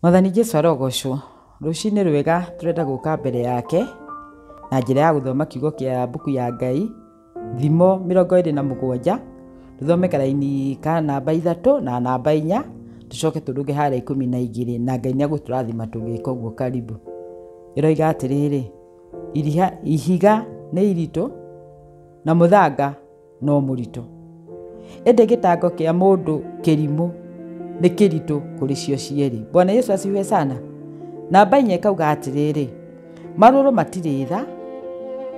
Mwathani Jesu arogocwo. Rũcinĩ rwega tũrenda gũka mbere yake na njĩra ya gũthoma kiugo kĩa mbuku ya Ngai, Thimo mĩrongo ĩrĩ na mũgwanja, tũthome karaini ka namba ithatũ na namba inya, tũcoke tũrũge harĩa ikũmi na igĩrĩ na Ngai nĩ egũtũrathima tũgĩka ũguo karibu. Ĩroiga atĩrĩrĩ, ihiga nĩ iritũ na mũthanga. no mũritũ ĩndĩ gĩtango kĩa mũndũ kĩrimũ nĩ kĩritũ kũrĩ cio cierĩ bwana yesu asiwe sana namba inya ĩkauga atĩrĩrĩ marũrũ matirĩ tha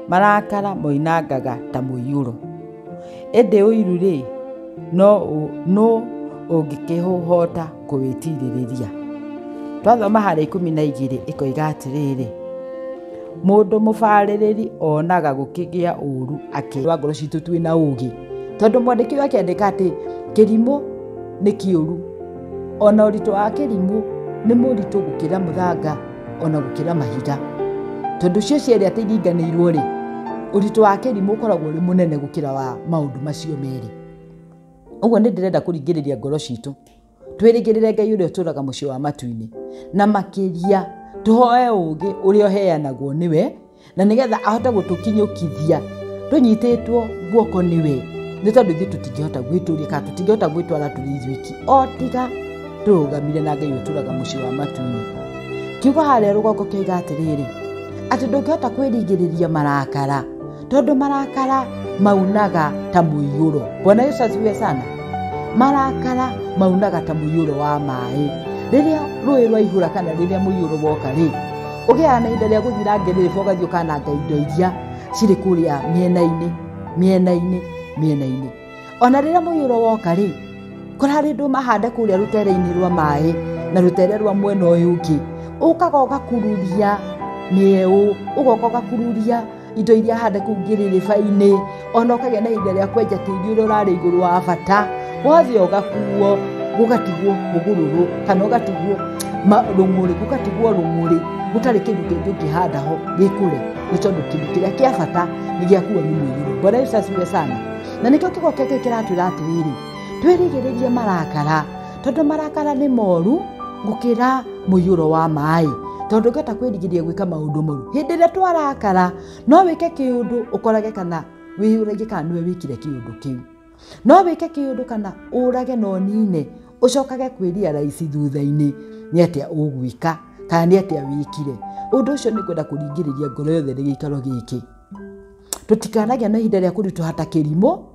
marakara moinangaga ta mũiyũro ĩndĩ ũiru-rĩ no ũ- nũ ũngĩkĩhũhota kũwĩtirĩrĩria twathoma harĩa ikũmi na igĩrĩ ĩkoiga atĩrĩrĩ mũndũ mũbarĩrĩri onaga gũkĩgĩa ũru akĩrwa ngoro citũ twĩ na ũgĩ tondũ mwandĩki ũyũ akĩandĩka atĩ kĩrimũ nĩ kĩũru ona ũritũ wa kĩrimũ nĩ mũritũ gũkĩra mũthanga ona gũkĩra mahiga tondũ cio cierĩ atĩ iringanĩirwo rĩ ũritũ wa kĩrimũ ũkoragwo ũrĩ mũnene gũkĩra wa maũndũ macio merĩ ũguo nĩ ndĩrenda kũringĩrĩria ngoro citũ twĩrĩgĩrĩre ngai ũrĩa ũtũraga mũciĩ wa matu-inĩ na makĩria tũhoe ũũgĩ ũrĩa ũheanagwo nĩwe na nĩgetha ahote gũtũkinyũkithia tũnyitĩtwo guoko nĩwe nĩ tondũ ithuĩ tũtingĩhota gwĩtũria kana tũtingĩhota gwĩtwara tũrĩ ithuiki o tiga tũrũgamire na ngai ũtũraga mũciĩ wa matu-inĩ kiugo harĩa rũgongo kĩoiga atĩrĩrĩ atĩ ndũngĩhota kwĩrigĩrĩria marakara tondũ marakara maunaga ta mũiyũro bwana yesu asifiwe sana marakara maunaga ta mũiyũro wa maĩ rĩrĩa rũĩ rwaihũra kana rĩrĩa mũiyũro woka rĩ ũgĩaga na ihinda rĩa gũthira ngerĩrĩba ũgathiĩ ũkananga indo iria cirĩ kũrĩa mĩena-inĩ mĩena-inĩ mĩena-inĩ ona rĩrĩa mũiyũro woka rĩ kũrarĩ ndũ mahande kũrĩa rũtere-inĩ rwa maĩ na rũtere rwa mwena ũyũ ũngĩ ũkaga ũgakururia mĩeũ ũgoka ũgakururia indo iria hande kũu ngĩrĩrĩba-inĩ ona ũkagĩa na ihinda rĩa kwenja tĩri ũrĩa ũrarĩ igũrũ wa bata wothe ũgakuo gũgatigwo mũgũrũrũ kana ũgatigwo ma- rũng'ũrĩ gũgatigwo rũng'ũrĩ gũtarĩ kĩndũ kĩngĩ ũngĩhanda ho gĩkũre nĩ tondũ kĩndũ kĩrĩa kĩa bata nĩ gĩakuo nĩ mũiyũro bwana yesu asiwe sana na nĩkĩo kiugo kĩngĩ kĩratwĩra atĩrĩrĩ twĩrigĩrĩrie marakara tondũ marakara nĩ moru gũkĩra mũiyũro wa maĩ tondũ ngĩhota kwĩrigĩrĩria gwĩka maũndũ moru hĩndĩ ĩrĩa twarakara no wĩke kĩũndũ ũkorage kana wĩyũragie kana nĩwe wĩkire kĩũndũ kĩu no wĩke kĩũndũ kana ũrage na ũnine ũcokage kwĩria raici thutha-inĩ nĩ atĩa ũgwĩka kana nĩ atĩa wĩkire ũndũ ũcio nĩ kwenda kũringĩrĩria ngoro yothe gĩikaro gĩkĩ tũtikanagĩa na ihinda rĩa kũritũha ta kĩrimũ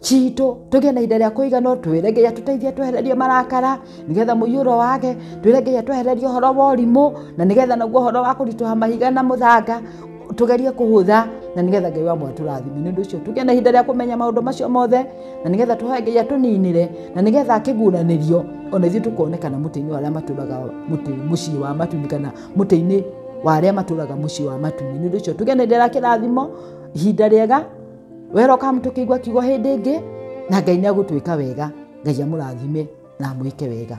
citũ tũgĩe na ihinda rĩa kũigana twĩre ngai atũteithie twehererie marakara nĩgetha mũiyũro wage twĩre ngai atwehererie ũhoro wa ũrimũ na nĩgetha naguo ũhoro wa kũritũha mahiga na mũthanga tũgerie kũhũtha na nĩgetha ngai wa mwatũrathime nĩ ũndũ ũcio tũgĩe na ihinda rĩa kũmenya maũndũ macio mothe na nĩgetha tũhoe ngai atũninĩre na nĩgetha akĩguranĩrio ona ithuĩ tũkonekana mũtĩ-inĩ wa arĩa matũraga mũtĩ mũciĩ wa matuni kana mũtĩ-inĩ wa arĩa matũraga mũciĩ wa matuni nĩ ũndũ ũcio tũgĩe na ihinda rĩa kĩrathimo ihinda rĩega welcome tũkĩigua kiugo hĩndĩ ĩngĩ na ngai nĩ agũtwĩka wega ngai amũrathime na amwĩke wega